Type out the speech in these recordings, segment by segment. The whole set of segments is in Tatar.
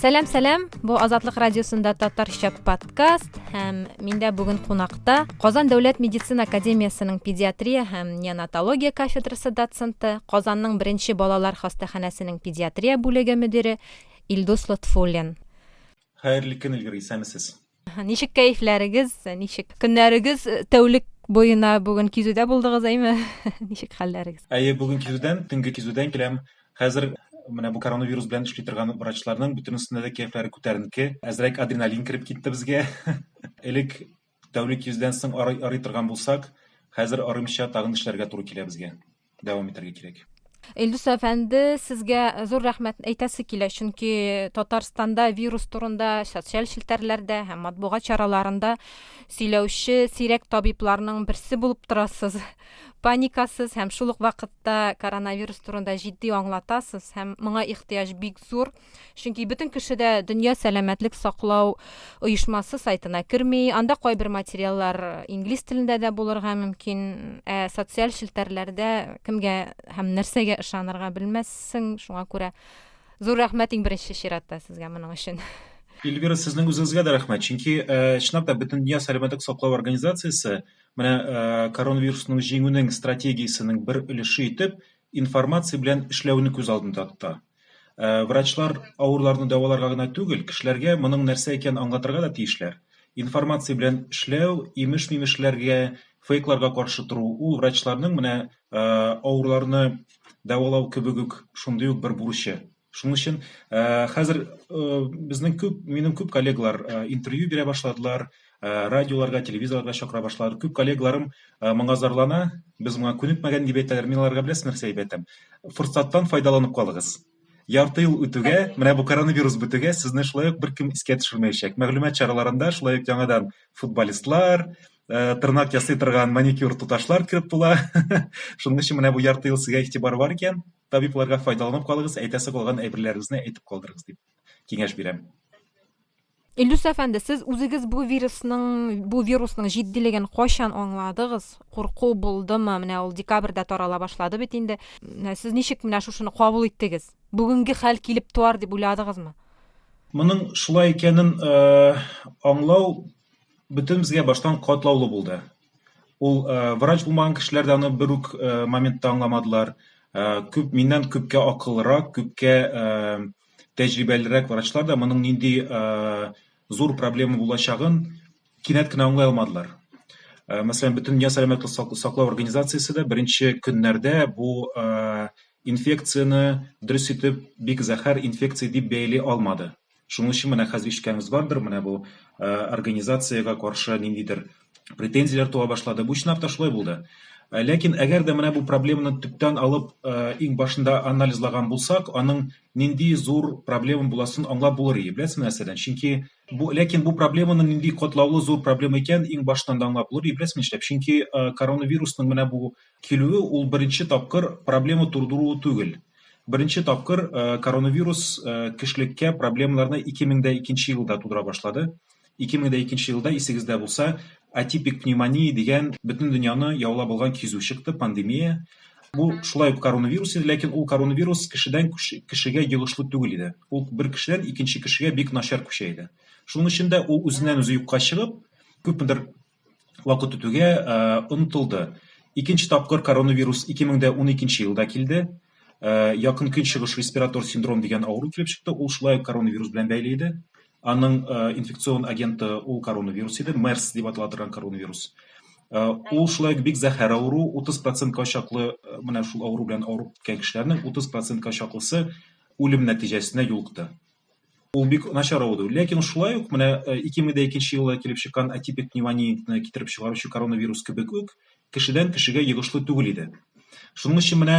Сәлам, сәлам. Бу Азатлык радиосында татарча подкаст һәм миндә бүген кунакта Казан дәүләт медицина академиясенең педиатрия һәм неонатология кафедрасы доценты, Казанның беренче балалар хастаханәсенең педиатрия бүлеге мөдире Илдус Лотфуллин. Хәерле көн, Илгир, исәнмесез. Ничек кәефләрегез, ничек көннәрегез э, тәүлек буена бүген кизүдә булдыгыз, әйме? Ничек хәлләрегез? Әйе, бүген кизүдән, төнге кизүдән киләм. Хәзер менә бу коронавирус белән эшли торган врачларның бөтенесендә дә кәефләре күтәренке. Әзрәк адреналин кереп китте безгә. Элек тәүлек йөздән соң арый, арый торган булсак, хәзер арымча тагын эшләргә туры килә безгә. дәвам итәргә кирәк. Илдус әфәнде, сезгә зур рәхмәт әйтәсе килә, чөнки Татарстанда вирус турында социаль челтәрләрдә һәм матбугат чараларында сөйләүче сирәк табибларның берсе булып торасыз. Паникасыз һәм шул ук вакытта коронавирус турында җитди аңлатасыз һәм моңа ихтыяҗ бик зур. Чөнки бөтен кеше дә дөнья сәламәтлек саклау оешмасы сайтына керми. Анда кайбер материаллар инглиз телендә дә булырга мөмкин. Ә социаль челтәрләрдә кемгә һәм нәрсәгә ышанырга белмәссең. Шуңа күрә зур рәхмәт иң беренче чиратта сезгә моның өчен. Эльвира, сезнең үзегезгә дә рәхмәт, чөнки чынлап та Бөтендөнья сәламәтлек саклау организациясе менә коронавирусның җиңүнең стратегиясенең бер өлеше итеп информация белән эшләүне күз алдында тота. Э, врачлар авырларны дәваларга гына түгел, кешеләргә моның нәрсә икәнен аңлатырга да тиешләр. Информация белән эшләү, имеш-мимешләргә, фейкларга каршы тору, ул врачларның менә э, авырларны дәвалау кебек үк шундый ук бер бурычы. Шуның өчен э, хәзер безнең күп, минем күп коллегалар интервью бирә башладылар, Э, радиоларга, телевизорларга чакыра башладылар. Күп коллегаларым э, моңа зарлана, без моңа күнекмәгән дип әйтәләр. Мин аларга беләсез нәрсә дип әйтәм? Форсаттан файдаланып калыгыз. Ярты ел үтүгә, менә бу коронавирус бетүгә, сезне шулай ук беркем искә төшермәячәк. Мәгълүмат чараларында шулай ук яңадан футболистлар, э, тырнак ясый торган маникюр туташлар кереп була. Шуның өчен менә бу ярты ел сезгә игътибар бар икән, табибларга файдаланып калыгыз, әйтәсе калган әйберләрегезне әйтеп калдырыгыз дип киңәш бирәм. Илдус әфәнде, сез үзегез бу вирусның, бу вирусның җитдилеген кайчан аңладыгыз? Курку булдымы? Менә ул декабрьдә тарала башлады бит инде. Менә сез ничек менә шушыны кабул иттегез? Бүгенге хәл килеп туар дип уйладыгызмы? Моның шулай икәнен э, аңлау бөтенебезгә баштан катлаулы булды. Ул э, врач булмаган кешеләр дә аны бер үк э, моментта аңламадылар. Э, күп миннән күпкә акыллырак, күпкә э, тәҗрибәлерәк врачлар да моның нинди зур проблема булачагын кинәт кенә аңлай алмадылар. Мәсәлән, бөтен дөнья сәламәтлек саклау организациясе дә беренче көннәрдә бу инфекцияне дөрес итеп бик зәһәр инфекция дип бәяли алмады. Шуның өчен менә хәзер ишеткәнегез бардыр, менә бу организациягә каршы ниндидер претензияләр туа башлады. Бу чынлап та шулай булды. Э, ләкин әгәр дә менә бу проблеманы төптән алып э, иң башында анализлаган булсак аның нинди зур проблема буласын аңлап булыр иде беләсезме нәрсәдән чөнки бу ләкин бу проблеманың нинди катлаулы зур проблема икән иң башыннан да аңлап булыр иде беләсезме нишләп чөнки э, коронавирусның менә бу килүе ул беренче тапкыр проблема тудыруы түгел беренче тапкыр коронавирус кешелеккә проблемаларны 2002 елда тудыра башлады 2002 елда, исегездә булса, атипик пневмония дигән бөтен дөньяны яулап алган кизү чыкты, пандемия. Бу шулай ук коронавирус иде, ләкин ул коронавирус кешедән кешегә йогышлы түгел иде. Ул бер кешедән икенче кешегә бик начар күчә иде. Шуның өчен дә ул үзеннән үзе юкка чыгып, күпмедер вакыт үтүгә онытылды. Икенче тапкыр коронавирус 2012 елда килде. Якын көнчыгыш респиратор синдром дигән авыру килеп чыкты. Ул шулай ук коронавирус белән бәйле иде. Аның инфекцион агенты ул коронавирус иде, MERS дип атала торган коронавирус. Ул шулай ук бик зәһәр авыру, 30%-ка чаклы менә шул авыру белән авырып киткән кешеләрнең 30%-ка чаклысы үлем нәтиҗәсенә юлыкты. ул бик начар ауыру ләкин шулай ук менә 2002 э, елда килеп чыккан атипик пневмонияны китереп чыгаручы коронавирус кебек үк кешедән кешегә йогышлы түгел иде шуның өчен менә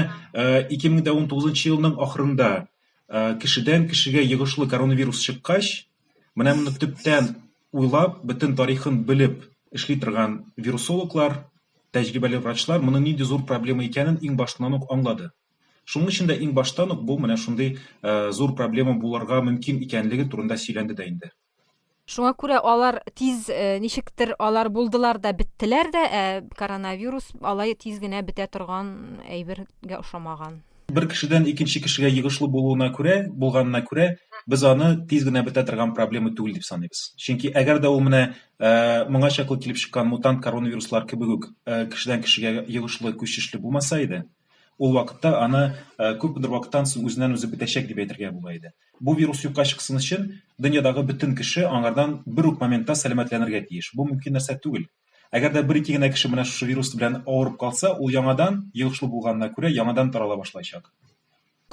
2019 э, елның ахырында э, кешедән кешегә йогышлы коронавирус чыккач менә моны төптән уйлап бөтен тарихын белеп эшли торган вирусологлар тәҗрибәле врачлар моның нинди зур проблема икәнен иң башыннан ук аңлады Шуның өчен дә иң баштан ук бу менә шундый зур проблема булырга мөмкин икәнлеге турында сөйләнде дә инде. Шуңа күрә алар тиз, ничектер, алар булдылар да беттеләр дә, ә коронавирус алай тиз генә бетә торган әйбергә ошамаган. Бер кешедән икенче кешегә йогышлы булуына күрә, булганына күрә, без аны тиз генә бетә торган проблема түгел дип саныйбыз. Чөнки әгәр дә ул менә моңа чаклы килеп чыккан мутант коронавируслар кебек үк кешедән кешегә йогышлы, күчешле булмаса иде, Ул вакытта аны күпмедер вакыттан соң үзеннән-үзе бетәчәк дип әйтергә була иде. Бу вирус юкка чыксын өчен, дөньядагы бөтен кеше аңардан бер үк моментта сәламәтләнергә тиеш. Бу мөмкин нәрсә түгел. Әгәр дә бер-ике генә кеше менә шушы вирус белән авырып калса, ул яңадан, йогышлы булганына күрә, яңадан тарала башлаячак.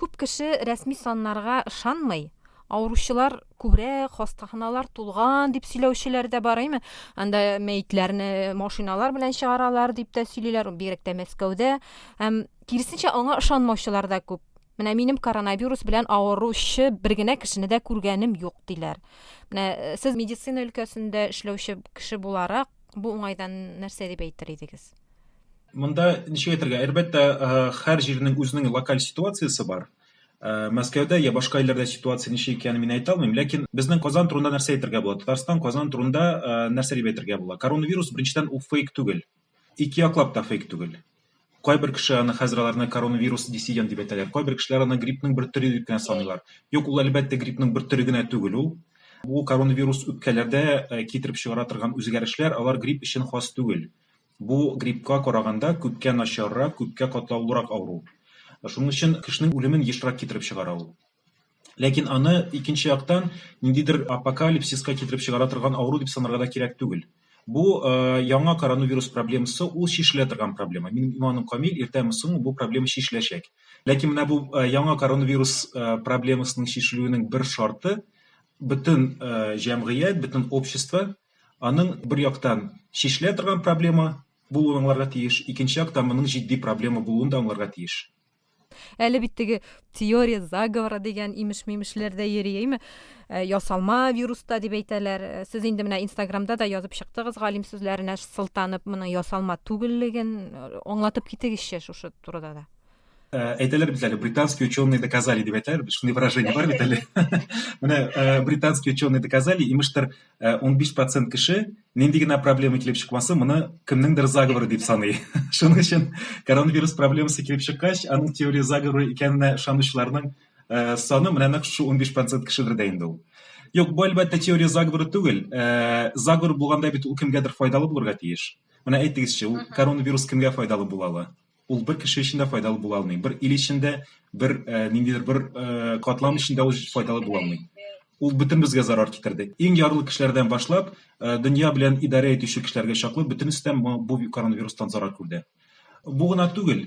Күп кеше рәсми саннарга ышанмый. Авыручылар күбрәк, хастаханалар тулган, дип сөйләүчеләр дә бар, әйме? Анда мәетләрне машиналар белән чыгаралар, дип тә сөйлиләр, бигрәк тә Мәскәүдә. Һәм киресенчә аңа ышанмаучылар да күп. Менә минем коронавирус белән авыручы бер генә кешене дә күргәнем юк, диләр. Менә э, сез медицина өлкәсендә эшләүче кеше буларак, бу уңайдан нәрсә дип әйтер идегез? Монда ничек әйтергә, әлбәттә, һәр җирнең үзенең локаль ситуациясе бар. Мәскәүдә я башка илләрдә ситуация ничек икәнен мин әйтә алмыйм, ләкин безнең Казан турында нәрсә әйтергә була? Татарстан, Казан турында нәрсә дип әйтергә була? Коронавирус, беренчедән, ул фейк түгел. Ике яклап та фейк түгел. Кайбер кеше аны хәзер аларны коронавирус диссидент дип әйтәләр. Кайбер кешеләр аны гриппның бер төре дип кенә саныйлар. Юк, ул әлбәттә гриппның бер төре генә түгел ул. Бу коронавирус үпкәләрдә китереп чыгара торган үзгәрешләр, алар грипп өчен хас түгел. Бу гриппка караганда күпкә начаррак, күпкә катлаулырак авыру. Шуның өчен кешенең үлемен ешрак китереп чыгара ул. Ләкин аны, икенче яктан, ниндидер апокалипсиска китереп чыгара торган авыру дип санарга да кирәк түгел. Бу яңа коронавирус проблемасы, ул чишелә торган проблема. Минем иманым камил, иртәме соң бу проблема чишеләчәк. Ләкин менә бу яңа коронавирус проблемасының чишелүенең бер шарты, бөтен җәмгыять, бөтен общество Аның, бер яктан, чишелә торган проблема булуын аңларга тиеш, икенче яктан, моның җитди проблема булуын да аңларга тиеш. Әле бит теге теория заговора дигән имеш-мимешләр дә йөри, әйме? Ә, ясалма вирус та дип әйтәләр. Ә, сез инде менә Инстаграмда да язып чыктыгыз, галим сүзләренә сылтанып, моның ясалма түгеллеген э, аңлатып китегезче шушы турыда да. Ә, әйтәләр бит әле, британские ученые доказали дип әйтәләр, шундый выражение бар бит әле. Менә британские ученые доказали, имештер, 15 процент кеше нинди генә проблема килеп чыкмасын, моны кемнеңдер заговоры дип саный. Шуның өчен коронавирус проблемасы килеп чыккач, аның теория заговоры икәненә ышанучыларның э, саны менә нәкъ шул 15 процент кешедер дә инде ул. Юк, бу әлбәттә теория заговоры түгел. Э, заговор булганда бит ул кемгәдер файдалы булырга тиеш. Менә әйтегезче, ул коронавирус кемгә файдалы була ала? Ул бер кеше өчен дә файдалы була алмый. Бер ил өчен дә, бер ниндидер бер катлам өчен дә ул файдалы була алмый. Ул бөтенебезгә зарар китерде. Иң ярлы кешеләрдән башлап, дөнья белән идарә итүче кешеләргә чаклы бөтенесе дә бу коронавирустан зарар күрде. Бу гына түгел,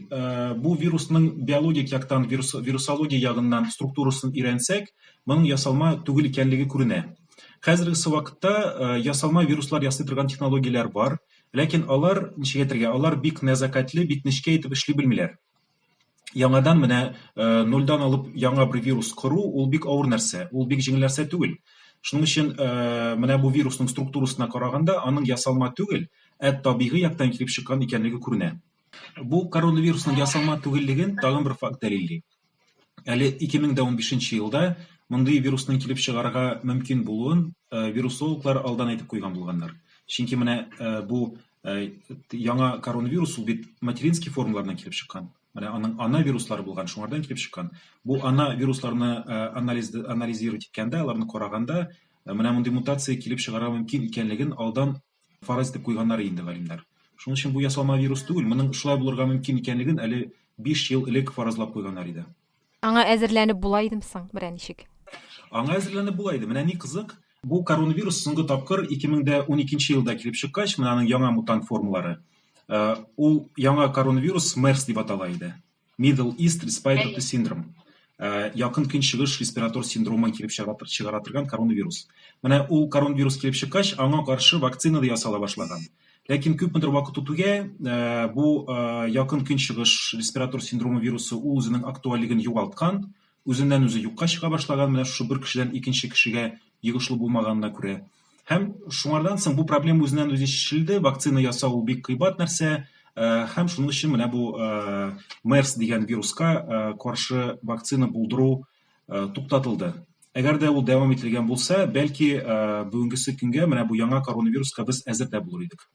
бу вирусның биологик яктан, вирус, вирусология ягыннан структурасын өйрәнсәк, моның ясалма түгел икәнлеге күренә. Хәзерге вакытта ясалма вируслар ясый торган технологияләр бар. Ләкин алар, ничек әйтергә, алар бик нәзакәтле, бик нечкә итеп эшли белмиләр. Яңадан менә нульдан алып яңа бер вирус кору, ул бик авыр нәрсә, ул бик җиңел нәрсә түгел. Шуның өчен менә бу вирусның структурасына караганда, аның ясалма түгел, ә табигый яктан килеп чыккан икәнлеге күренә. Бу коронавирусның ясалма түгеллеген тагын бер факт дәлилли. әле 2015 елда мондый вирусның килеп чыгарга мөмкин булуын э, вирусологлар алдан әйтеп куйган булганнар. Чөнки менә э, бу э, яңа коронавирус ул бит материнский формалардан килеп чыккан. Менә аның ана вируслары булган, шуңардан килеп чыккан. Бу ана вирусларны анализ анализировать иткәндә, аларны караганда менә мондый мутация килеп чыгарга мөмкин икәнлеген алдан фараз итеп куйганнар инде галимнәр. Шуның өчен бу ясалма вирус түгел, моның шулай булырга мөмкин икәнлеген әле биш ел элек фаразлап куйганнар иде. Аңа әзерләнеп була идеме соң, берәр ничек? Аңа әзерләнеп була иде. Менә ни кызык, бу коронавирус соңгы тапкыр 2012 елда килеп чыккач, менә аның яңа мутант формалары, ул яңа коронавирус MERS дип атала иде. Middle East Respiratory Syndrome. Э, якын көнчыгыш респиратор синдромын килеп чыгара торган коронавирус. Менә ул коронавирус килеп чыккач, аңа каршы вакцина да ясала башлаган. Ләкин күпмедер вакыт үтүгә э, бу э, якын көнчыгыш респиратор синдромы вирусы ул үзенең актуальлеген югалткан, үзеннән-үзе юкка чыга башлаган менә шушы бер кешедән икенче кешегә йогышлы булмаганына күрә. Һәм шуңардан соң бу проблема үзеннән үзе чишелде, вакцина ясау ул бик кыйбат нәрсә, э, һәм шуның өчен менә бу э, МЕРС дигән вируска э, каршы вакцина булдыру туктатылды. Әгәр дә ул дәвам ителгән булса, бәлки бүгенгесе көнгә менә бу яңа коронавируска без әзер дә булыр идек.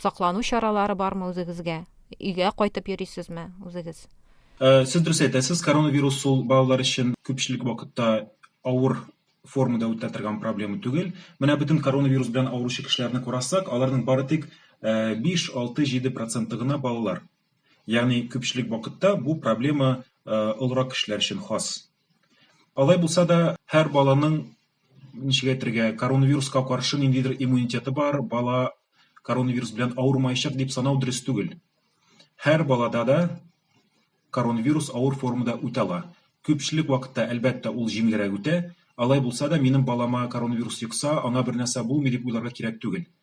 Саклану чаралары бармы үзегезгә? Өйгә кайтып йөрисезме үзегез? Сез дөрес әйтәсез, коронавирус ул балалар өчен күпчелек вакытта авыр формада үтә торган проблема түгел. Менә бөтен коронавирус белән авыручы кешеләрне карасак, аларның бары тик 5-6-7 проценты гына балалар. Ягъни күпчелек вакытта бу проблема олырак кешеләр өчен хас. Алай булса да, һәр баланың ничек әйтергә, коронавируска каршы ниндидер иммунитеты бар, бала коронавирус белән авырмаячак дип санау дөрес түгел. Һәр балада да коронавирус авыр формада үтә ала. Күпчелек вакытта, әлбәттә, ул җиңелрәк үтә. Алай булса да, минем балама коронавирус йокса, аңа бернәрсә булмый дип уйларга кирәк түгел.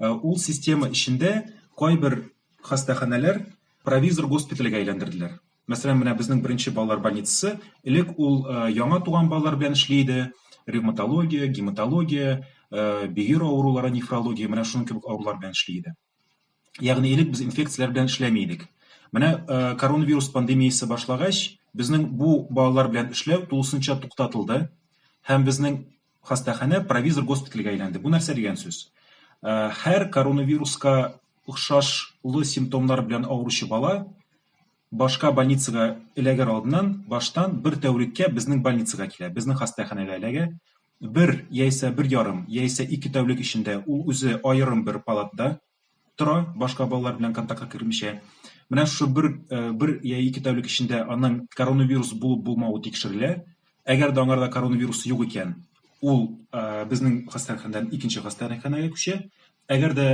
Э, ул система эчендә кайбер хастаханәләр провизор госпитальгә әйләндерделәр мәсәлән менә безнең беренче балалар больницасы элек ул э, яңа туган балалар белән эшли иде ревматология гематология э, бөер авырулары нефрология менә шуның кебек авырулар белән эшли иде Ягъни элек без инфекцияләр белән эшләми идек. Менә коронавирус пандемиясе башлагач, безнең бу балалар белән эшләү тулысынча туктатылды һәм безнең хастаханә провизор госпитальгә әйләнде. Бу нәрсә дигән сүз? Һәр коронавируска охшашлы симптомнар белән авыручы бала башка больницага эләгер алдыннан баштан бер тәүлеккә безнең больницага килә, безнең хастаханәгә эләгә. Бер, яисә бер ярым, яисә ике тәүлек эчендә ул үзе аерым бер палатада тора, башка балалар белән контактка кермичә. Менә шушы бер, бер я ике тәүлек эчендә аның коронавирус булып-булмавы тикшерелә. Әгәр дә аңарда коронавирус юк икән, ул безнең хастаханәдән икенче хастаханәгә күчә. Әгәр дә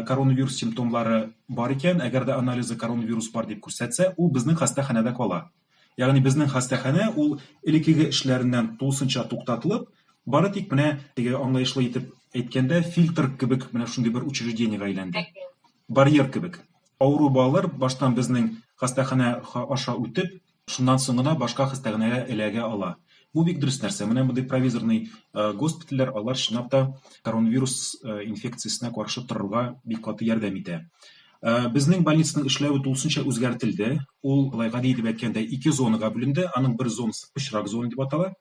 коронавирус симптомлары бар икән, әгәр дә анализы коронавирус бар дип күрсәтсә, ул безнең хастаханәдә кала. Ягъни безнең хастаханә ул элеккеге эшләреннән тулысынча туктатылып, бары тик менә теге аңлаешлы итеп әйткәндә фильтр кебек менә шундый бер учреждениегә әйләнде. Барьер кебек. Авыру балалар баштан безнең хастаханә аша үтеп, Шуннан соң гына башка хастаханәгә эләгә ала. Бу бик дөрес нәрсә. Менә мондый провизорный госпитальләр, алар чынлап та коронавирус инфекциясенә каршы торырга бик каты ярдәм итә. Безнең больницаның эшләве тулысынча үзгәртелде. Ул, болай гади итеп әйткәндә, ике зонага бүленде. Аның бер зонасы пычрак зона дип атала.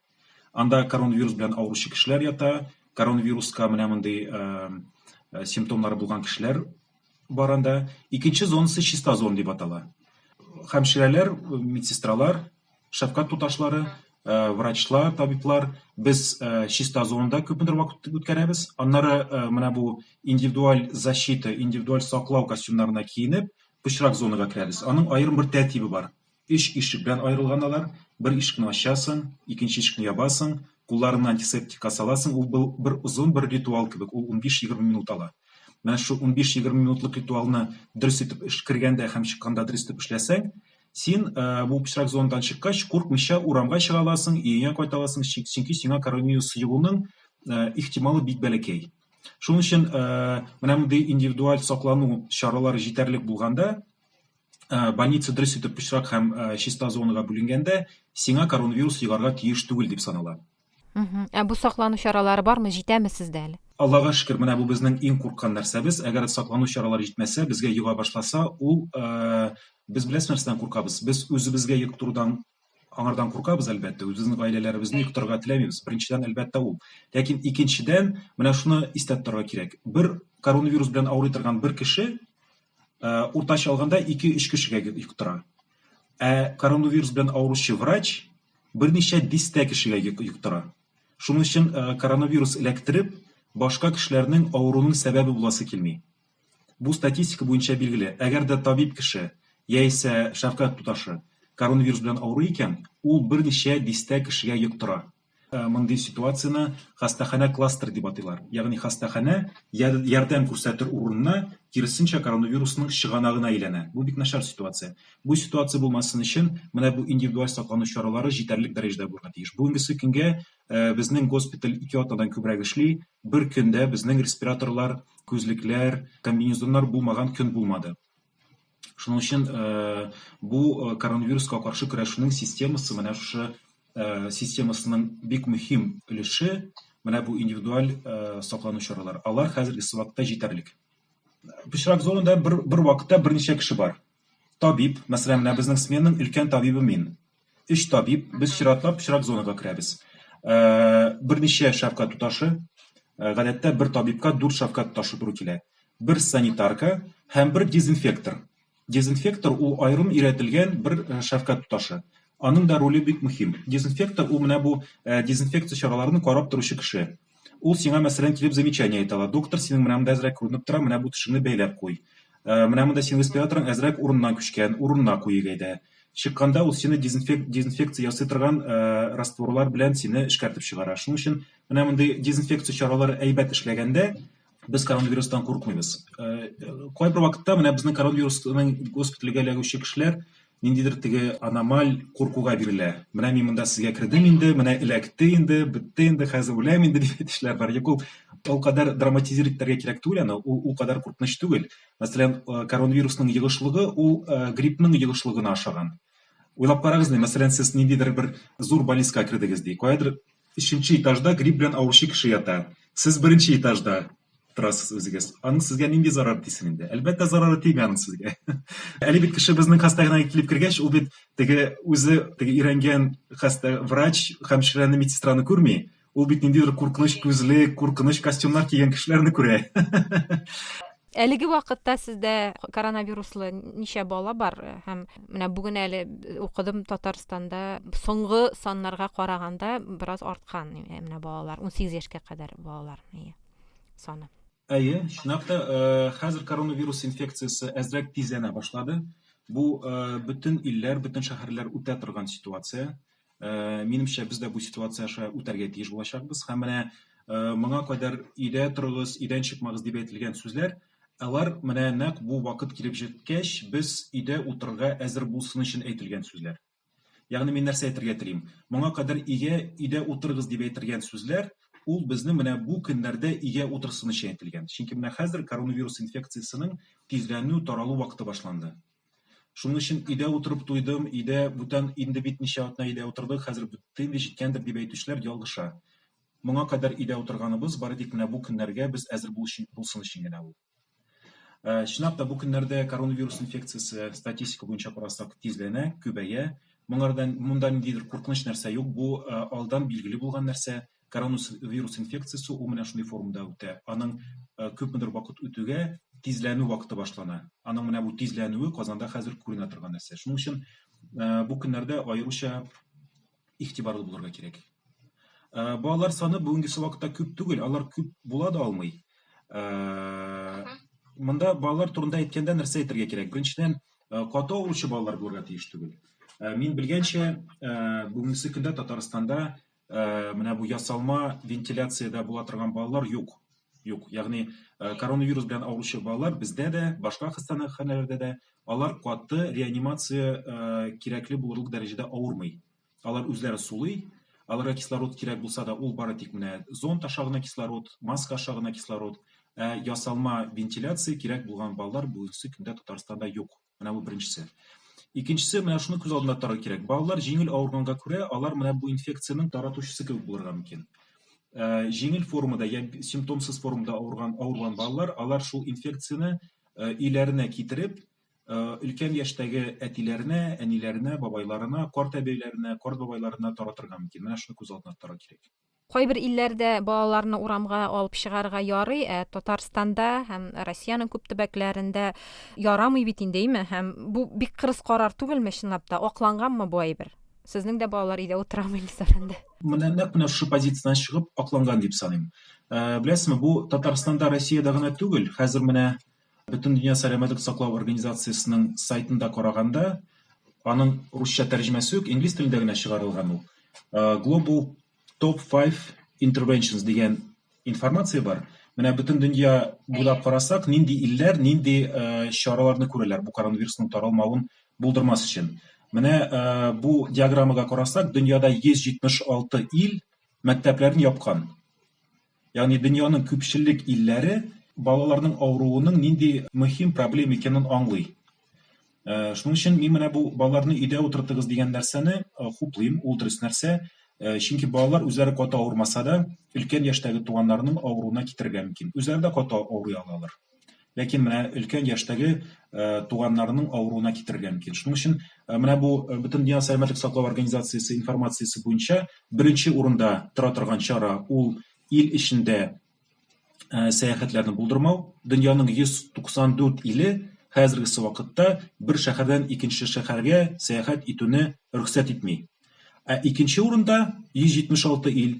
Анда коронавирус белән авыручы кешеләр ята, коронавируска менә мондый симптомнары булган кешеләр бар анда. Икенче зонасы чиста зона дип атала. Хәмширәләр, медсестралар, шәфкать туташлары, э, врачлар, табиблар без э, чиста зонада күпмедер вакыт үткәрәбез. Аннары э, менә бу индивидуаль защита, индивидуаль саклау костюмнарына киенеп, пычрак зонага керәбез. Аның аерым бер тәртибе бар. Өч ишек белән аерылган алар, бер ишекне ачасың, икенче ишекне ябасың, кулларыңны антисептикка саласың, ул был бер озын бер ритуал кебек, ул унбиш-егерме минут ала. Менә шул унбиш-егерме минутлык ритуалны дөрес итеп эш кергәндә һәм чыкканда дөрес итеп эшләсәң, син э, бу пычрак зондан чыккач, куркмыйча урамга чыга аласың, өеңә кайта аласың, чөнки сиңа коронавирус йогуның э, ихтималы бик бәләкәй. Шуның өчен э, менә мондый индивидуаль саклану чаралары җитәрлек булганда, Э, больница дөрес итеп пычрак һәм э, чиста зонага бүленгәндә сиңа коронавирус йогарга тиеш түгел дип санала ә бу саклану чаралары бармы җитәме сездә әле аллага шөкер менә бу безнең иң курккан нәрсәбез әгәр саклану чаралары җитмәсә безгә йога башласа ул э, без беләсез нәрсәдән куркабыз без үзебезгә йоктырудан аңардан куркабыз әлбәттә үзебезнең гаиләләребезне йоктырырга теләмибез беренчедән әлбәттә ул ләкин икенчедән менә шуны истә тотарга кирәк бер коронавирус белән авырый торган бер кеше ә, уртача алганда 2-3 кешегә йөк тора. Ә коронавирус белән авыручы врач берничә дистә кешегә йөк, йөк тора. Шуның өчен ә, коронавирус эләктереп, башка кешеләрнең авыруның сәбәбе буласы килми. Бу статистика буенча билгеле. Әгәр дә табиб кеше яисә шәфкать туташы коронавирус белән авыру икән, ул берничә дистә кешегә йөк тора. Э, мондый ситуацияне хастаханә кластер дип атыйлар ягъни хастаханә ярдәм күрсәтер урынына киресенчә коронавирусның чыганагына әйләнә бу бик начар ситуация бу ситуация булмасын өчен менә бу индивидуаль саклану чаралары җитәрлек дәрәҗәдә булырга тиеш бүгенгесе көнгә э, безнең госпиталь ике атнадан күбрәк эшли бер көндә безнең респираторлар күзлекләр комбинезоннар булмаган көн булмады Шуның өчен бу коронавируска каршы көрәшүнең системасы менә шушы системасының бик мөһим өлеше менә бу индивидуаль саклану чаралары. Алар хәзерге вакытта җитәрлек. Пычрак зонында бер, бер вакытта берничә кеше бар. Табиб, мәсәлән, менә безнең сменның өлкән табибы мин. өч табиб, без чиратлап чират зонага керәбез. Берничә шәфкать туташы, гадәттә бер табибка дүрт шәфкать туташы туры килә. Бер санитарка һәм бер дезинфектор. Дезинфектор ул аерым өйрәтелгән бер шәфкать туташы. Аның да роле бик мөһим. Дезинфектор ул менә бу дезинфекция чараларын карап торучы кеше. Ул сиңа мәсәлән килеп замечание әйтә ала. Доктор, синең менә монда әзрәк күренеп тора, менә бу тешеңне бәйләп куй. Э, менә монда синең респираторың әзрәк урыннан күчкән, урынына куйыйк әйдә. Чыкканда ул сине дезинфек, дезинфекция ясый торган э, растворлар белән сине эшкәртеп чыгара. Шуның өчен менә мондый дезинфекция чаралары әйбәт эшләгәндә, без коронавирустан куркмыйбыз. Э, Кайбер вакытта менә безнең коронавирусның госпитальгә эләгүче кешеләр ниндидер теге аномаль куркуга бирелә. Менә мин монда сезгә кердем инде, менә эләкте инде, бетте инде, хәзер үләм инде дигән кешеләр бар. Юк, ул ул кадәр драматизировать итәргә кирәк түгел аны, ул ул кадәр куркыныч түгел. Мәсәлән, э, коронавирусның йогышлыгы ул э, гриппның йогышлыгына ошаган. Уйлап карагыз, мәсәлән, сез ниндидер бер зур больницага кердегез ди. Каядыр Өченче этажда грипп белән авыручы кеше ята. Сез беренче этажда торасыз үзегез. Аның сезгә нинди зарары тисен инде? Әлбәттә, зарары тими аның сезгә. Әле бит кеше безнең хастаханәгә килеп кергәч, ул бит теге үзе теге өйрәнгән хаста врач, хәмширәне, медсестраны күрми. Ул бит ниндидер куркыныч күзле, куркыныч костюмнар кигән кешеләрне күрә. Әлеге вакытта сездә коронавируслы ничә бала бар һәм менә бүген әле укыдым Татарстанда соңгы саннарга караганда бераз арткан менә балалар 18 яшькә кадәр балалар саны. Әйе, чынлап та, хәзер коронавирус инфекциясе әзрәк тизләнә башлады. Бу бөтен илләр, бөтен шәһәрләр үтә торган ситуация. Э, минемчә без дә бу ситуация аша үтәргә тиеш булачакбыз һәм менә э, моңа кадәр өйдә торыгыз өйдән чыкмагыз дип әйтелгән сүзләр алар менә нәкъ бу вакыт килеп җиткәч без өйдә утырырга әзер булсын өчен әйтелгән сүзләр ягъни мин нәрсә әйтергә телим моңа кадәр өйгә өйдә утырыгыз дип әйтелгән сүзләр ул безне менә бу көннәрдә өйгә утырсын өчен әйтелгән чөнки менә хәзер коронавирус инфекциясенең тизләнү таралу вакыты башланды Шуның өчен өйдә утырып туйдым, өйдә бүтән инде бит ничә атна өйдә утырдык, хәзер бетте инде, җиткәндер дип әйтүчеләр ялгыша. Моңа кадәр өйдә утырганыбыз бары тик менә бу көннәргә без әзер булсын өчен генә ул. Ә, чынлап та бу көннәрдә коронавирус инфекциясе статистика буенча карасак тизләнә, күбәя. Моңардан монда ниндидер куркыныч нәрсә юк, бу э, алдан билгеле булган нәрсә, коронавирус инфекциясе ул менә шундый формада үтә. Аның э, күпмедер вакыт үтүгә тизләнү вакыты башлана. Аның менә бу тизләнүе Казанда хәзер күренә торган нәрсә. Шуның өчен э, бу көннәрдә аеруча игътибарлы булырга кирәк. Э, балалар саны бүгенге вакытта күп түгел, алар күп була да алмый. Монда балалар турында әйткәндә нәрсә әйтергә кирәк? Беренчедән, каты авыручы балалар булырга тиеш түгел. Мин белгәнчә, бүгенге көндә Татарстанда ә, менә бу ясалма вентиляциядә була торган балалар юк. Юк. Ягъни э, коронавирус белән авыручы балалар бездә дә, башка хастаханәләрдә дә алар каты реанимация э, кирәкле булырлык дәрәҗәдә авырмый. Алар үзләре сулый, аларга кислород кирәк булса да, ул бары тик менә зонт аша гына кислород, маска аша гына кислород, ә ясалма вентиляция кирәк булган балалар бүгенге көндә Татарстанда юк. Менә бу беренчесе. Икенчесе менә шуны күз алдында тотарга кирәк. Балалар җиңел авырганга күрә, алар менә бу инфекцияның таратучысы кебек булырга мөмкин. Э, җиңел формада я симптомсыз формада авырган авырган балалар, алар шул инфекцияне э, өйләренә китереп, э, өлкән яшьтәге әтиләренә, әниләренә, бабайларына, карт әбиләренә, карт бабайларына таратырга мөмкин. Менә шуны күз алдына тотарга кирәк. Кайбер илләрдә балаларны урамга алып чыгарга ярый, ә Татарстанда һәм Россиянең күп төбәкләрендә ярамый бит инде, име? Һәм бу бик кырыс карар түгелме, чынлап та? Акланганмы бу әйбер? Сезнең дә балалар өйдә утырамы, Илсар әндә? Менә нәкъ менә шушы позициядән чыгып акланган дип саныйм. Беләсезме, бу Татарстанда, Россиядә генә түгел, хәзер менә Бөтендөнья сәламәтлек саклау организациясенең сайтында караганда, аның русча тәрҗемәсе юк, инглиз телендә генә чыгарылган ул. Global Top 5 Interventions дигән информация бар. Менә бөтен дөнья буйлап карасак, нинди илләр, нинди э, чараларны күрәләр бу коронавирусның таралмавын булдырмас өчен. Менә э, бу диаграммага карасак, дөньяда 176 ил мәктәпләрен япкан. Ягъни дөньяның күпчелек илләре балаларның авыруының нинди мөһим проблем икәнен аңлый. Э, шуның өчен мин менә бу балаларны өйдә утыртыгыз дигән нәрсәне э, хуплыйм, ул дөрес нәрсә. Э, чөнки балалар үзләре каты авырмаса да, өлкән яшьтәге туганнарының авыруына китерергә мөмкин. Үзләре дә каты авырый алалар. Ләкин менә өлкән яшьтәге туганнарының авыруына китерергә мөмкин. Шуның өчен менә бу Бөтендөнья сәламәтлек саклау организациясе информациясе буенча беренче урында тора торган чара ул ил эчендә сәяхәтләрне булдырмау. Дөньяның 194 иле хәзергесе вакытта бер шәһәрдән икенче шәһәргә сәяхәт итүне рөхсәт итми. Ә икенче урында 176 ил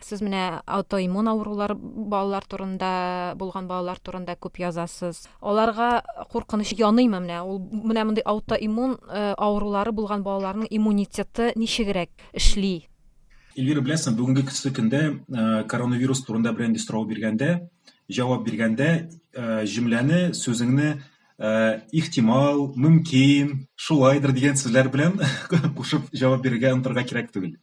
Сез менә аутоиммун авырулар балалар турында, булган балалар турында күп язасыз. Аларга куркыныч яныймы менә? Ул менә мондый аутоиммун э, авырулары булган балаларның иммунитеты ничегрәк эшли? Эльвира, беләсең, бүгенге көчле көндә э, коронавирус турында бренди сорау биргәндә, җавап биргәндә э, җөмләне, сүзеңне Э, ихтимал, мөмкин, шулайдыр дигән сүзләр белән кушып җавап бирергә онтырга кирәк түгел.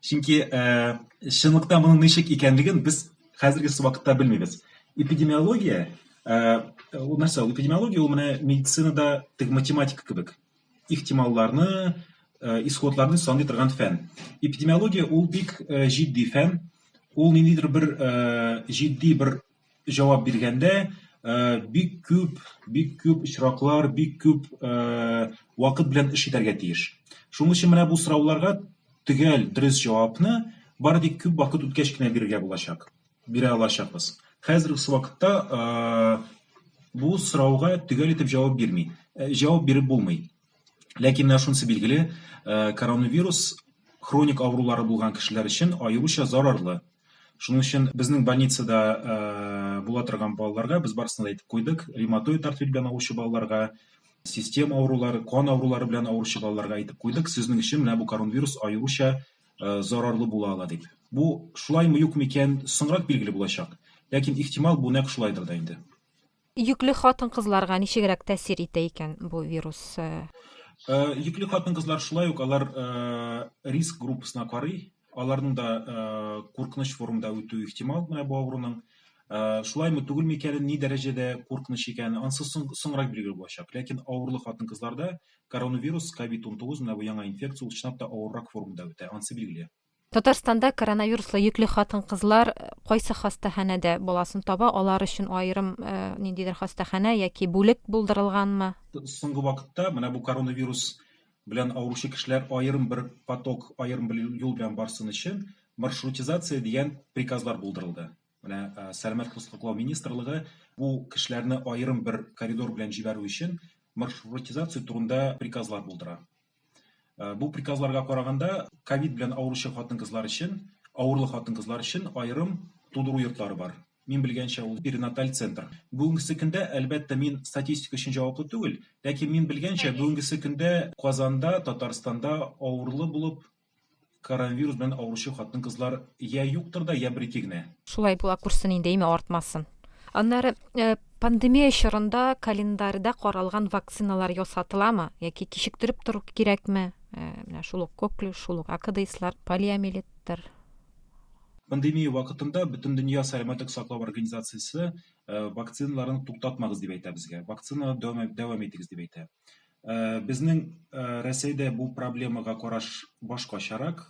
Чөнки э, чынлыкта моның ничек икәнлеген без хәзерге вакытта белмибез. Эпидемиология, э, ул нәрсә? Ул эпидемиология ул менә медицинада тек математика кебек. Ихтималларны, э, исходларны саный торган фән. Эпидемиология ул бик э, җитди фән. Ул ниндидер бер э, җитди бер җавап биргәндә бик күп, бик күп очраклар, бик күп вакыт белән эш итәргә тиеш. Шуның өчен менә бу сорауларга төгәл дөрес җавапны бары тик күп вакыт үткәч кенә бирергә булачак. Бирә алачакбыз. Хәзерге вакытта бу сорауга төгәл итеп җавап бирми. Җавап биреп булмый. Ләкин менә шунысы билгеле, коронавирус хроник авырулары булган кешеләр өчен аеруча зарарлы. Шуның өчен безнең больницада була торган балаларга без барысына да әйтеп куйдык, ревматоид артрит белән авыручы балаларга, систем авырулары, кан авырулары белән авыручы балаларга әйтеп куйдык, сезнең өчен менә бу коронавирус аеруча зарарлы була ала дип. Бу шулаймы, юкмы икән, соңрак билгеле булачак. Ләкин ихтимал бу нәкъ шулайдыр да инде. Йөкле хатын-кызларга ничегрәк тәэсир итә икән бу вирус? Йөкле хатын-кызлар шулай ук алар риск группасына карый, аларның да куркыныч формада үтү ихтимал менә бу авыруның. Шулаймы, түгелме икәнен, ни дәрәҗәдә куркыныч икәнен, анысы соңрак билгеле булачак. Ләкин авырлы хатын-кызларда коронавирус, COVID-19, менә бу яңа инфекция, ул чынлап та авыррак формада үтә, анысы билгеле. Татарстанда коронавируслы йөкле хатын-кызлар кайсы хастаханәдә баласын таба, алар өчен аерым ниндидер хастаханә яки бүлек булдырылганмы? Соңгы вакытта менә бу коронавирус белән авыручы кешеләр аерым бер поток, аерым бер юл белән барсын өчен маршрутизация дигән приказлар булдырылды. Менә Сәламәт кыз саклау министрлыгы бу кешеләрне аерым бер коридор белән җибәрү өчен маршрутизация турында приказлар булдыра. Э, бу приказларга караганда ковид белән авыручы хатын-кызлар өчен, авырлы хатын-кызлар өчен аерым тудыру йортлары бар. Мин белгәнчә ул перинаталь центр. Бүгенге көндә, әлбәттә, мин статистика өчен җаваплы түгел, ләкин мин белгәнчә бүгенге көндә Казанда, Татарстанда авырлы булып Коронавирус белән авыручы хатын-кызлар йә юктыр да, йә бер-ике генә. Шулай була күрсен инде, име артмасын. Аннары, пандемия чорында календарьда каралган вакциналар ясатыламы, яки кичектереп тору кирәкме? Менә шул ук коклюш, шул ук АКДИСлар, полиомиелиттер. Пандемия вакытында Бөтендөнья сәламәтлек саклау организациясе вакциналарын туктатмагыз дип әйтә безгә. Вакцинаны дәвам итегез дип әйтә. Э, безнең э, рәсәйдә бу проблемага караш башкачарак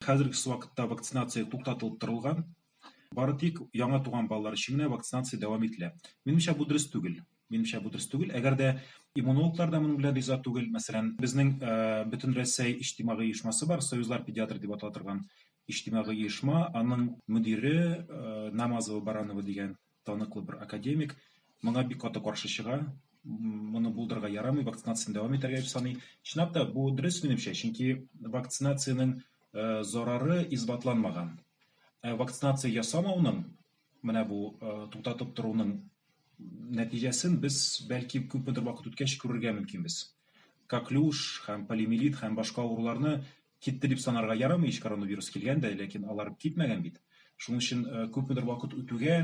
хәзерге вакытта вакцинация туктатылып торылган бары тик яңа туган балалар өчен генә вакцинация дәвам ителә минемчә бу дөрес түгел минемчә бу дөрес түгел әгәр дә иммунологлар да моның белән риза түгел мәсәлән безнең э, бөтен рәсәй иҗтимагый оешмасы бар союзлар педиатр дип атала торган иҗтимагый оешма аның мөдире намазова баранова дигән таныклы бер академик моңа бик каты каршы чыга моны булдырырга ярамый вакцинацияны дәвам итәргә дип саный чынлап та бу дөрес минемчә чөнки вакцинациянең э, зарары исбатланмаган ә вакцинация ясамауның менә бу э, туктатып торуның нәтиҗәсен без бәлки күпмедер вакыт үткәч күрергә мөмкинбез коклюш һәм полимелит һәм башка авыруларны Китте дип санарга ярамый ич, коронавирус килгән дә, ләкин алар китмәгән бит. Шуның өчен күпмедер вакыт үтүгә,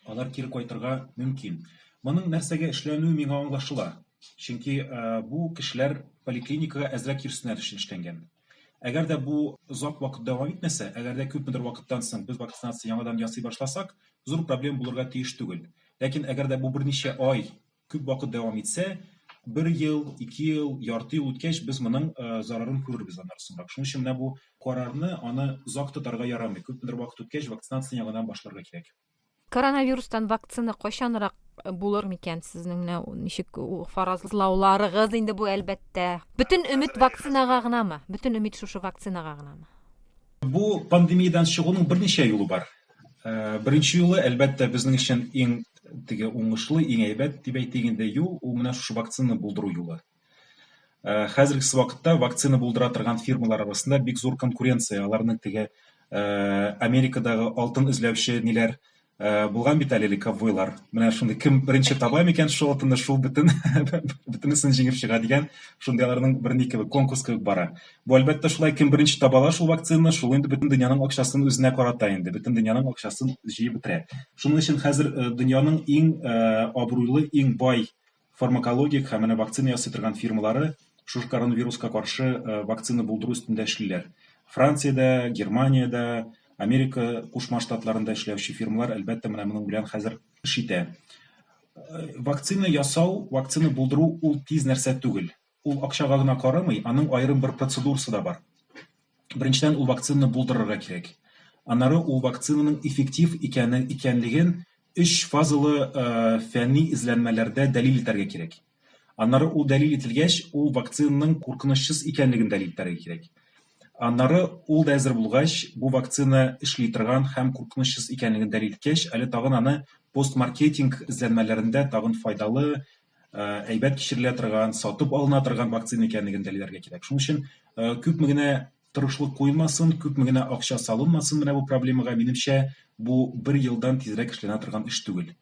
алар кире кайтырга мөмкин. Моның нәрсәгә эшләнүе миңа аңлашыла. Чөнки бу кешеләр поликлиникага әзрәк йөрсеннәр өчен эшләнгән. Әгәр дә бу озак вакыт дәвам итмәсә, әгәр дә күпмедер вакыттан соң без вакцинация яңадан ясый башласак, зур проблем булырга тиеш түгел. Ләкин әгәр дә бу берничә ай күп вакыт дәвам итсә, бер ел, ике ел, ярты ел үткәч, без моның э, зарарын күрербез аннары соңрак. Шуның өчен менә бу карарны аны озак тотарга ярамый. Күпмедер вакыт үткәч, вакцинацияне яңадан башларга кирәк. Коронавирустан вакцина кайчанрак э, булыр микән сезнең менә ничек фаразлауларыгыз инде бу әлбәттә. Бөтен өмет вакцинага гынамы? Бөтен өмет шушы вакцинага гынамы? Бу пандемиядән чыгуның берничә юлы бар. Э, беренче юлы, әлбәттә, безнең өчен иң теге уңышлы, иң әйбәт дип әйтик инде юл, ул менә шушы вакцина булдыру юлы. Э, хәзерге вакытта вакцина булдыра торган фирмалар арасында бик зур конкуренция, аларның теге э, Америкадагы алтын эзләүче ниләр булган бит әле ковбойлар. Менә шундый кем беренче таба микән шул алтынны, шул бөтен бөтенесен җиңеп чыга дигән, шундый аларның бернеке конкурс кебек бара. Бу, әлбәттә, шулай, кем беренче таба ала шул вакцинаны, шул инде бөтен дөньяның акчасын үзенә карата инде, бөтен дөньяның акчасын җыеп бетерә. Шуның өчен хәзер э, дөньяның иң э, абруйлы, иң бай фармакологик һәм менә вакцина ясый торган фирмалары шушы коронавируска каршы э, вакцина булдыру өстендә эшлиләр. Франциядә, Германиядә, Америка Кушма Штатларында эшләүче фирмалар, әлбәттә, менә моның белән хәзер эш итә. Вакцина ясау, вакцина булдыру ул тиз нәрсә түгел. Ул акчага гына карамый, аның аерым бер процедурасы да бар. Беренчедән, ул вакцинаны булдырырга кирәк. Аннары ул вакцинаның эффектив икәне, икәнлеген өч фазалы фәнни эзләнмәләрдә дәлил итәргә кирәк. Аннары ул дәлил ителгәч, ул вакцинаның куркынычсыз икәнлеген дәлил итәргә кирәк. Аннары ул да әзер булгач, бу вакцина эшли торган һәм куркынычсыз икәнлеген дәлил иткәч, әле тагын аны постмаркетинг эзләнмәләрендә тагын файдалы, әйбәт кичерелә торган, сатып алына торган вакцина икәнлеген дәлилләргә кирәк. Шуның өчен күпме генә тырышлык куелмасын, күпме генә акча салынмасын менә бу проблемага, минемчә, бу бер елдан тизрәк эшләнә торган эш түгел.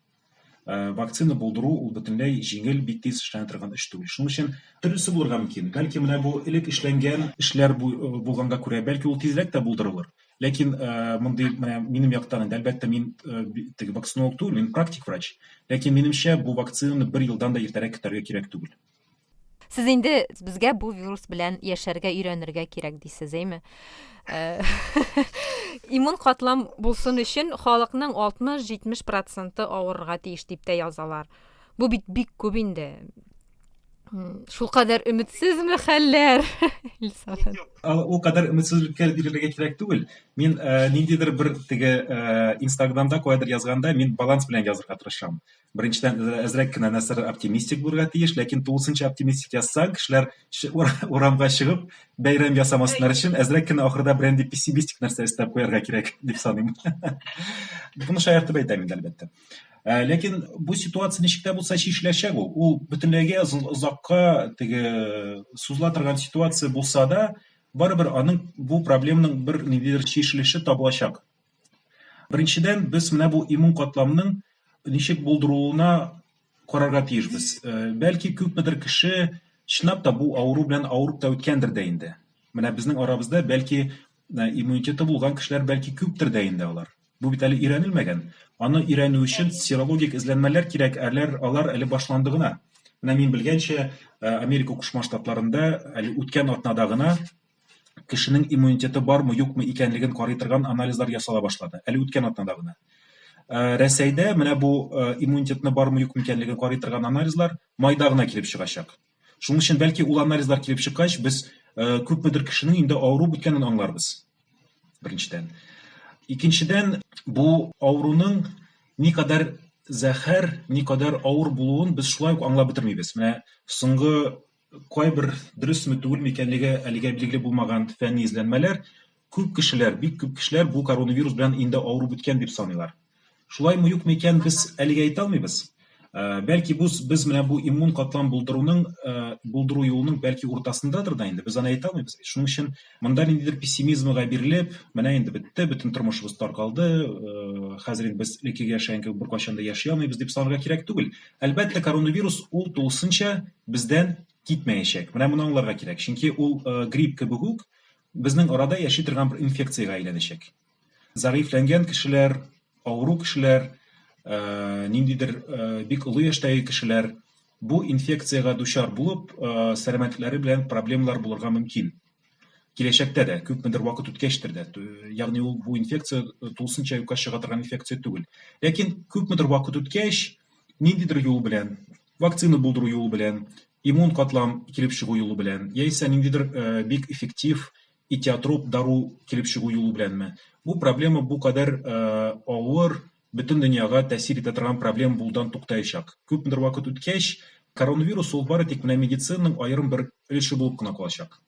Вакцина булдыру ул бөтенләй җиңел, бик тиз эшләнә торган эш түгел. Шуның өчен төрлесе булырга мөмкин. Бәлки менә бу элек эшләнгән эшләр булганга күрә, бәлки ул тизрәк тә булдырылыр. Ләкин э, мондый менә минем яктан инде әлбәттә мин э, теге вакцинолог түгел, мин практик врач. Ләкин минемчә бу вакцинаны бер елдан да иртәрәк көтәргә кирәк түгел. Сез инде безгә бу вирус белән яшәргә өйрәнергә кирәк дисез, әйме? Э, иммун катлам булсын өчен халыкның 60-70 проценты авырырга тиеш дип тә язалар. Бу бит бик күп инде. Шул кадәр өметсезме хәлләр? Ул кадәр өметсезлеккә бирелергә кирәк түгел. Мин э, ниндидер бер теге э, Инстаграмда кайдыр язганда, мин баланс белән язырга тырышам. Беренчедән, э, әзрәк кенә нәрсәләр оптимистик булырга тиеш, ләкин тулысынча оптимистик язсаң, кешеләр урамга чыгып, бәйрәм ясамаслар өчен әзрәк кенә ахырда берәндәй пессимистик нәрсә өстәп куярга кирәк дип саныйм. Буны шаяртып әйтәм инде, әлбәттә. Ә, ләкин бу ситуация ничек тә булса чишеләчәк ул. Ул бөтенләйгә озакка теге сузыла торган ситуация булса да, барыбер аның бу проблемның бер ниндидер чишелеше табылачак. Беренчедән, без менә бу иммун катламның ничек булдырылуына карарга тиешбез. Ә, бәлки күпмедер кеше чынлап та бу авыру белән авырып та үткәндер дә инде. Менә безнең арабызда бәлки Ә иммунитеты булган кешеләр бәлки күптер дә инде алар. Бу бит әле өйрәнелмәгән. Аны өйрәнү өчен серологик эзләнмәләр кирәк, әләр алар әле башланды гына. Менә мин белгәнчә, э, Америка Кушма Штатларында әле үткән атнада гына кешенең иммунитеты бармы, юкмы икәнлеген карый торган анализлар ясала башлады. Әле үткән атнада гына. Э, Рәсәйдә менә бу э, иммунитетны бармы, юкмы икәнлеген карый торган анализлар майда гына килеп чыгачак. Шуның өчен бәлки ул анализлар килеп чыккач, без күпмедер кешенең инде авырып беткәнен аңларбыз. Беренчедән. Икенчедән, бу авыруның никадәр зәһәр, никадәр авыр булуын без шулай ук аңлап бетермибез. Менә соңгы кайбер дөресме түгелме икәнлеге әлегә билгеле булмаган фәнни эзләнмәләр Күп кешеләр, бик күп кешеләр бу коронавирус белән инде авыру беткән дип саныйлар. Шулаймы, юкмы икән, без әлегә әйтә алмыйбыз. Бәлки бу без менә бу иммун катлам булдыруның булдыру юлының бәлки уртасындадыр да инде, без аны әйтә алмыйбыз. Шуның өчен монда ниндидер пессимизмга бирелеп, менә инде бетте, бөтен тормышыбыз таркалды, хәзер инде без элеккеге яшәгән кебек беркайчан да яши алмыйбыз дип санарга кирәк түгел. Әлбәттә, коронавирус ул тулысынча бездән китмәячәк. Менә моны аңларга кирәк. Чөнки ул грипп кебек үк, безнең арада яши торган бер инфекциягә әйләнәчәк. Зәгыйфьләнгән кешеләр, авыру кешеләр, э, ниндидер э, бик олы яшьтәге кешеләр бу инфекциягә дучар булып, э, сәламәтлекләре белән проблемалар булырга мөмкин. Киләчәктә дә, күпмедер вакыт үткәчтер дә, ягъни ул бу инфекция э, тулысынча юкка чыга торган инфекция түгел. Ләкин күпмедер вакыт үткәч, ниндидер юл белән, вакцина булдыру юлы белән, иммун катлам килеп чыгу юлы белән, яисә ниндидер э, бик эффектив этиотроп дару килеп чыгу юлы беләнме? Бу проблема бу кадәр э, авыр, бөтен дөньяга тәэсир итә торган проблема булудан туктаячак. Күпмедер вакыт үткәч, коронавирус ул бары тик менә медицинаның аерым бер өлеше булып кына калачак.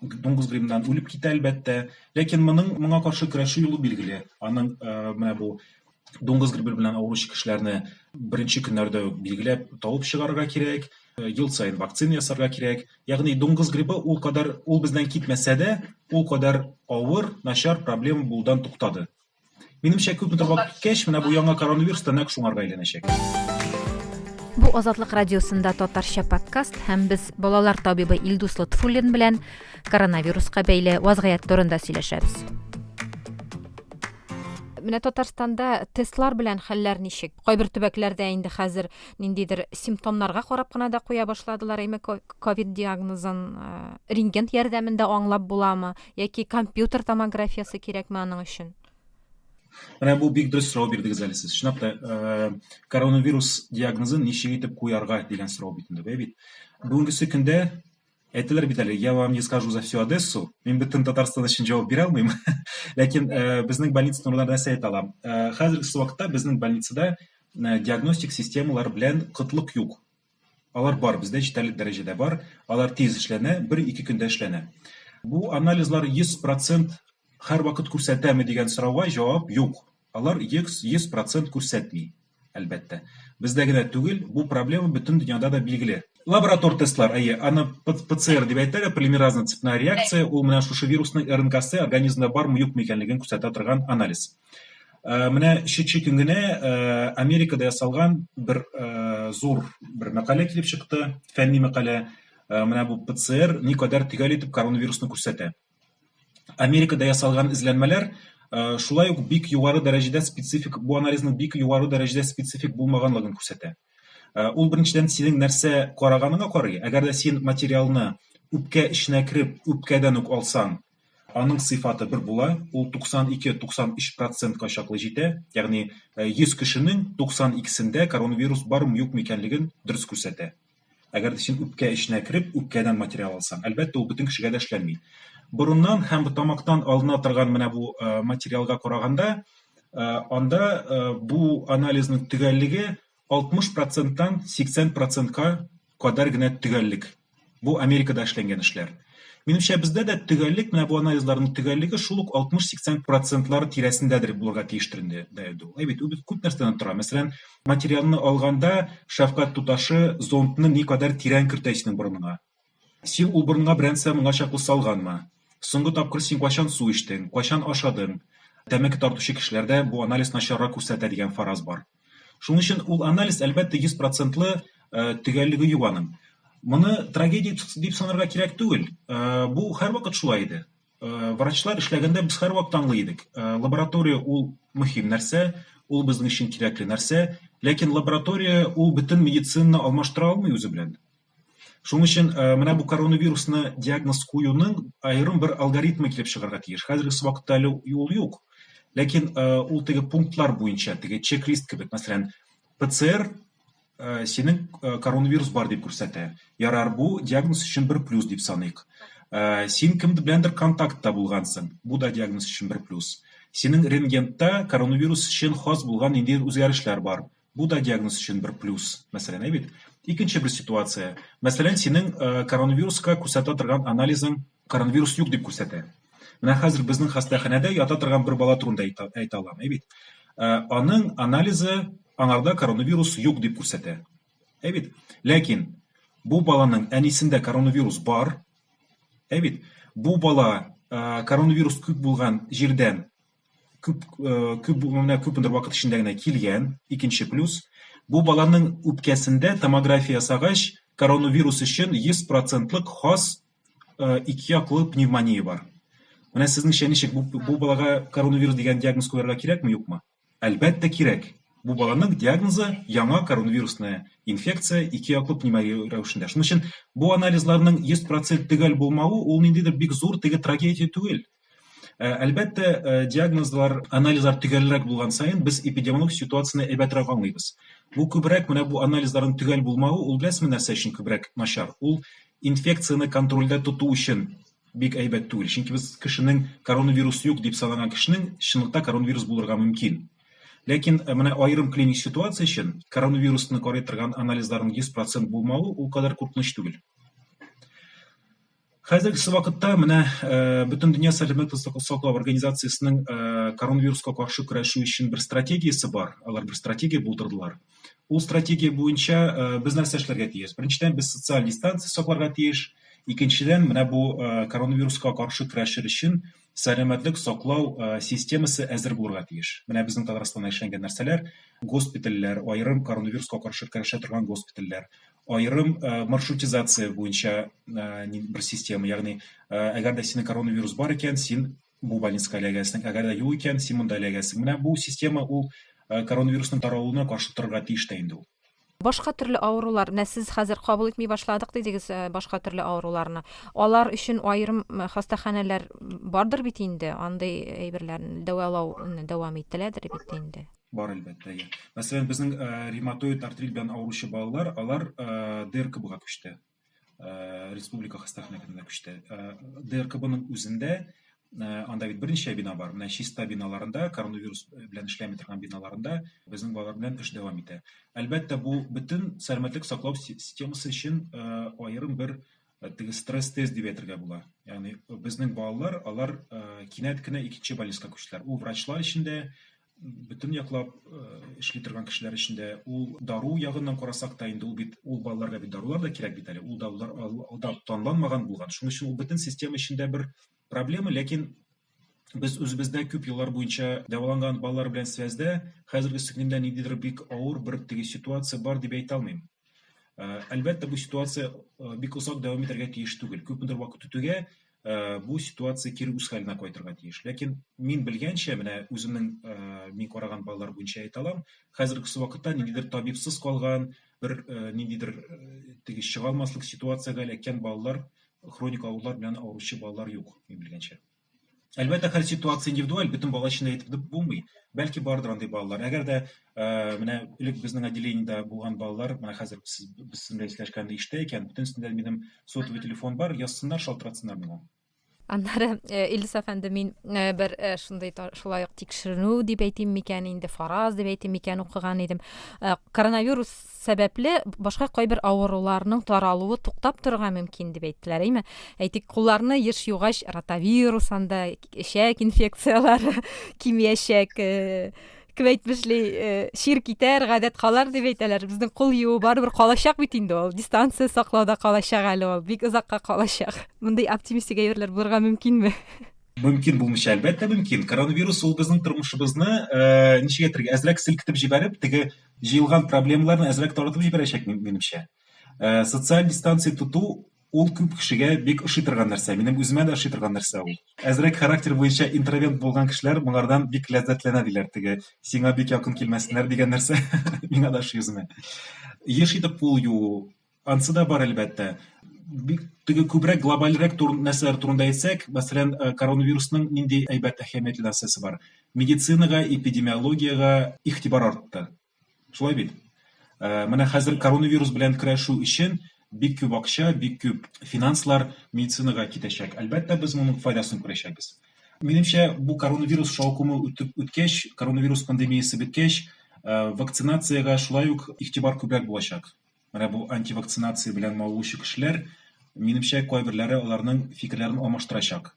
Дуңгыз гримнан үлеп китә, әлбәттә. Ләкин моның моңа каршы көрәшү юлы билгеле. Аның э, менә бу дуңгыз грибы белән авыручы кешеләрне беренче көннәрдә үк билгеләп табып чыгарырга кирәк э, ел сайын вакцина ясарга кирәк ягъни дуңгыз грибы ул кадәр ул бездән китмәсә дә ул кадәр авыр начар проблема булудан туктады Минемчә, күпме тыңлап киткәч, менә бу яңа коронавирус та нәкъ шуңарга әйләнәчәк. Бу Азатлык радиосында татарча подкаст һәм без балалар табибы Илдус Лотфуллин белән коронавируска бәйле вазгыять турында сөйләшәбез. Менә Татарстанда тестлар белән хәлләр ничек? Кайбер төбәкләрдә инде хәзер ниндидер симптомнарга карап кына да куя башладылар. Әйме ковид диагнозын рентген ярдәмендә аңлап буламы? Яки компьютер томографиясе кирәкме аның өчен? Менә бу бик дөрес сорау бирдегез әле сез. Чынлап та, э, коронавирус диагнозын ничек итеп куярга дигән сорау бит инде, бит. Бүгенгесе көндә әйтелер бит әле, я вам не скажу за всю Одессу, мин бөтен Татарстан өчен җавап бирә алмыйм. Ләкин э, безнең больница турында нәрсә әйтә алам? Э, хәзерге вакытта безнең больницада диагностик системалар белән кытлык юк. Алар бар, бездә җитәрлек дәрәҗәдә бар. Алар тиз эшләнә, бер-ике көндә эшләнә. Бу анализлар 100% һәрвакыт күрсәтәме дигән сорауга җавап юк. Алар 100% күрсәтми, әлбәттә. Бездә генә түгел, бу проблема бөтен дөньяда да билгеле. Лаборатор тестлар, әйе, аны ПЦР дип әйтәләр, полимеразная цепная реакция, ул менә шушы вирусның РНКсы организмда бармы-юкмы икәнлеген күрсәтә торган анализ. Э, менә шичи көн генә э, америкада ясалган бер э, зур бер мәкалә килеп чыкты фәнни мәкалә менә бу пцр никадәр төгәл итеп коронавирусны күрсәтә америкада ясалган эзләнмәләр шулай ук бик югары дәрәҗәдә специфик бу анализның бик югары дәрәҗәдә специфик булмаганлыгын күрсәтә ул беренчедән синең нәрсә караганыңа карый әгәр дә син материалны үпкә эченә кереп үпкәдән үк алсаң Аның сыйфаты бер була, ул 92-93 процентка чаклы җитә, ягъни 100 кешенең 92-сендә коронавирус бармы-юкмы икәнлеген дөрес күрсәтә. Әгәр дә син үпкә эченә кереп, үпкәдән материал алсаң, әлбәттә, ул бөтен кешегә дә эшләнми. Борыннан һәм тамактан алына торган менә бу материалга караганда, анда бу анализның төгәллеге 60 проценттан 80 процентка кадәр генә төгәллек. Бу Америкада эшләнгән эшләр. Минемчә, бездә дә төгәллек, менә бу анализларның төгәллеге шул ук 60-80 процентлар тирәсендәдер булырга тиештер инде дәү. Әй бит, без күп нәрсәдән тора. Мәсәлән, материалны алганда шәфкать туташы зондны никадәр тирән кертә исенең борыныңа. Син ул борынга берәмса моңа чаклы салганмы? Соңгы тапкыр син кайчан су эчтең, кайчан ашадың? Тәмәке тартучы кешеләрдә бу анализ начаррак күрсәтә дигән фараз бар. Шуның өчен ул анализ, әлбәттә, 100 процентлы төгәллеге юк аның. Моны трагедия дип санарга кирәк түгел. Бу һәрвакыт шулай иде. Врачлар эшләгәндә без һәрвакыт аңлый идек. Лаборатория ул мөһим нәрсә, ул безнең өчен кирәкле нәрсә. Ләкин лаборатория ул бөтен медицинаны алмаштыра алмый үзе белән. Шуның өчен э, менә бу коронавирусны диагноз куюның аерым бер алгоритмы килеп чыгарга тиеш. Хәзерге вакытта әле ул юк. Ләкин э, ул теге пунктлар буенча, теге чек-лист кебек, мәсәлән, ПЦР э, синең коронавирус бар дип күрсәтә. Ярар, бу диагноз өчен бер плюс дип саныйк. Син кем беләндер контактта булгансың. Бу да диагноз өчен бер плюс. Синең рентгентта коронавирус өчен хас булган инде үзгәрешләр бар. Бу да диагноз өчен бер плюс, мәсәлән, әйбит. Икенче бер ситуация. Мәсәлән, синең э, коронавируска күрсәтә торган анализың коронавирус юк дип күрсәтә. Менә хәзер безнең хастаханәдә ята торган бер бала турында әйтә алам, әйбит. Э, аның анализы аңарда коронавирус юк дип күрсәтә. Әйбит. Ләкин бу баланың әнисендә коронавирус бар. Әйбит. Бу бала э, коронавирус күп булган җирдән күп э, күп менә күпмедер вакыт эчендә генә килгән икенче плюс бу баланың үпкәсендә томография ясагач коронавирус өчен 100 процентлык хас э, ике яклы пневмония бар менә сезнеңчә ничек бу, бу балага коронавирус дигән диагноз куярга кирәкме юкмы әлбәттә кирәк бу баланың диагнозы яңа коронавирусная инфекция ике яклы пневмония рәвешендә шуның өчен бу анализларның 100 процент төгәл булмавы ул ниндидер бик зур теге трагедия түгел Ә, әлбәттә, ә, диагнозлар, анализлар төгәлрәк булган саен без эпидемиологик ситуацияне әйбәтрәк аңлыйбыз. Бу күбрәк менә бу анализларның төгәл булмавы, ул беләсезме нәрсә өчен күбрәк начар? Ул инфекцияне контрольдә тоту өчен бик әйбәт түгел. Чөнки без кешенең коронавирус юк дип санаган кешенең чынлыкта коронавирус булырга мөмкин. Ләкин э, менә аерым клиник ситуация өчен коронавирусны карый торган анализларның 100% булмавы ул кадәр куркыныч түгел. Хәзергесе вакытта менә э, бөтен дөнья сәламәтлек саклау организациясенең э, коронавируска каршы көрәшү өчен бер стратегиясе бар. Алар бер стратегия булдырдылар. Ул стратегия буенча э, без нәрсә эшләргә тиеш? Беренчедән без социаль дистанция сакларга тиеш. Икенчедән менә бу коронавируска каршы көрәшер өчен сәламәтлек саклау системасы әзер булырга тиеш. Менә безнең Татарстанда эшләнгән нәрсәләр, госпитальләр, аерым коронавируска каршы көрәшә торган госпитальләр, аерым маршрутизация буенча бер система, ягъни әгәр дә синең коронавирус бар икән, син бу больницага эләгәсең, әгәр дә юк икән, син монда эләгәсең. Менә бу система ул коронавирусның таралуына каршы торырга тиеш тә инде ул. Башка төрле авырулар, менә сез хәзер кабул итми башладык дидегез башка төрле авыруларны. Алар өчен аерым хастаханәләр бардыр бит инде, андый әйберләрне дәвалауны дәвам ителәдер бит инде. Бар, әлбәттә, я. Мәсәлән, безнең э, ревматоид артрит белән авыручы балалар, алар э, ДРКБга күчте. Э, республика хастаханәсенә күчте. Э, ДРКБның үзендә Э, анда бит берничә бина бар менә чиста биналарында коронавирус белән эшләми торган биналарында безнең балалар белән эш дәвам итә әлбәттә бу бөтен сәламәтлек саклау системасы өчен э, аерым бер э, теге стресс тест дип әйтергә була ягъни безнең балалар алар кинәт кенә икенче больницага күчтеләр ул врачлар өчен дә бөтен яклап эшли торган кешеләр эчендә ул дару ягыннан карасак та инде ул бит ул балаларга бит дарулар да кирәк бит әле ул дарулар алда танланмаган булган шуның өчен ул бөтен система эчендә бер проблема ләкин без үзебездә күп еллар буенча дәваланган балалар белән связьдә хәзерге сеңгемдә ниндидер бик авыр бер теге ситуация бар дип әйтә алмыйм әлбәттә бу ситуация бик озак дәвам итәргә тиеш түгел күпмедер вакыт үтүгә э, бу ситуация кире үз хәленә кайтырга тиеш. Ләкин мин белгәнчә, менә үземнең э, мин караган балалар буенча әйтә алам, хәзерге вакытта ниндидер табибсыз калган, бер э, ниндидер теге чыга алмаслык ситуациягә эләккән балалар, хроник авырулар белән авыручы балалар юк, мин белгәнчә. Әлбәттә, хәл ситуация индивидуаль, бөтен бала өчен әйтеп булмый. Бәлки бардыр андый балалар. Әгәр дә менә элек безнең отделениедә булган балалар менә хәзер сез без сезнең белән сөйләшкәндә ишетә икән бөтенесендә минем сотовый телефон бар язсыннар шалтыратсыннар миңа аннары э, илдус әфәнде мин э, бер э, шундый шулай ук тикшеренү дип әйтим микән инде фараз дип әйтим микән укыган идем коронавирус сәбәпле башка кайбер авыруларның таралуы туктап торырга мөмкин дип әйттеләр әйме әйтик кулларны еш югач ротавирус анда эчәк инфекцияләре кимиячәк кем әйтмешли э, чир китәр гадәт калар дип әйтәләр безнең кул юу барыбер калачак бит инде ул дистанция саклауда калачак әле ул бик озакка калачак мондый оптимистик әйберләр булырга мөмкинме мөмкин булмыйча әлбәттә мөмкин коронавирус ул безнең тормышыбызны э, ничек әйтергә әзрәк селкетеп җибәреп теге җыелган проблемаларны әзрәк таратып җибәрәчәк минемчә э, социаль дистанция тоту Ул күп кешегә бик ошый торган нәрсә. Минем үземә дә ошый торган нәрсә ул. Әзрәк характер буенча интроверт булган кешеләр моңардан бик ләззәтләнә, диләр. Теге сиңа бик якын килмәсеннәр дигән нәрсә миңа да ошый үземә. Еш итеп кул юу, ансы да бар, әлбәттә. Бик теге күбрәк глобальрәк тур, нәрсәләр турында әйтсәк, мәсәлән, э, коронавирусның нинди әйбәт әһәмиятле нәрсәсе бар? Медицинага, эпидемиологиягә игътибар артты. Шулай бит? Э, менә хәзер коронавирус белән көрәшү өчен бик күп акча, бик күп финанслар медицинага китәчәк. Әлбәттә, без моның файдасын күрәчәкбез. Минемчә, бу коронавирус шаукымы үтеп үткәч, коронавирус пандемиясе беткәч, э, вакцинациягә шулай ук игътибар күбрәк булачак. Менә бу антивакцинация белән мавыгучы кешеләр, минемчә, кайберләре аларның фикерләрен алмаштырачак.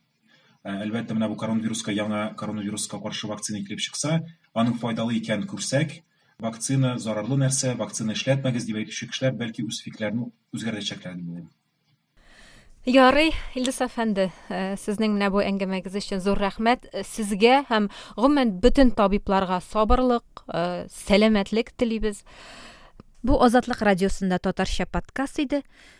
Ә, әлбәттә, менә бу коронавируска яңа коронавируска каршы вакцина килеп чыкса, аның файдалы икәнен күрсәк, вакцина зарарлы нәрсә, вакцина эшләтмәгез дип әйтүче кешеләр бәлки үз фикерләрен үзгәртәчәкләр дип уйлыйм. Ярый, Илдус әфәнде, э, сезнең менә бу әңгәмәгез өчен зур рәхмәт. Э, сезгә һәм гомумән бөтен табибларга сабырлык, э, сәламәтлек телибез. Бу Азатлык радиосында татарча подкаст иде.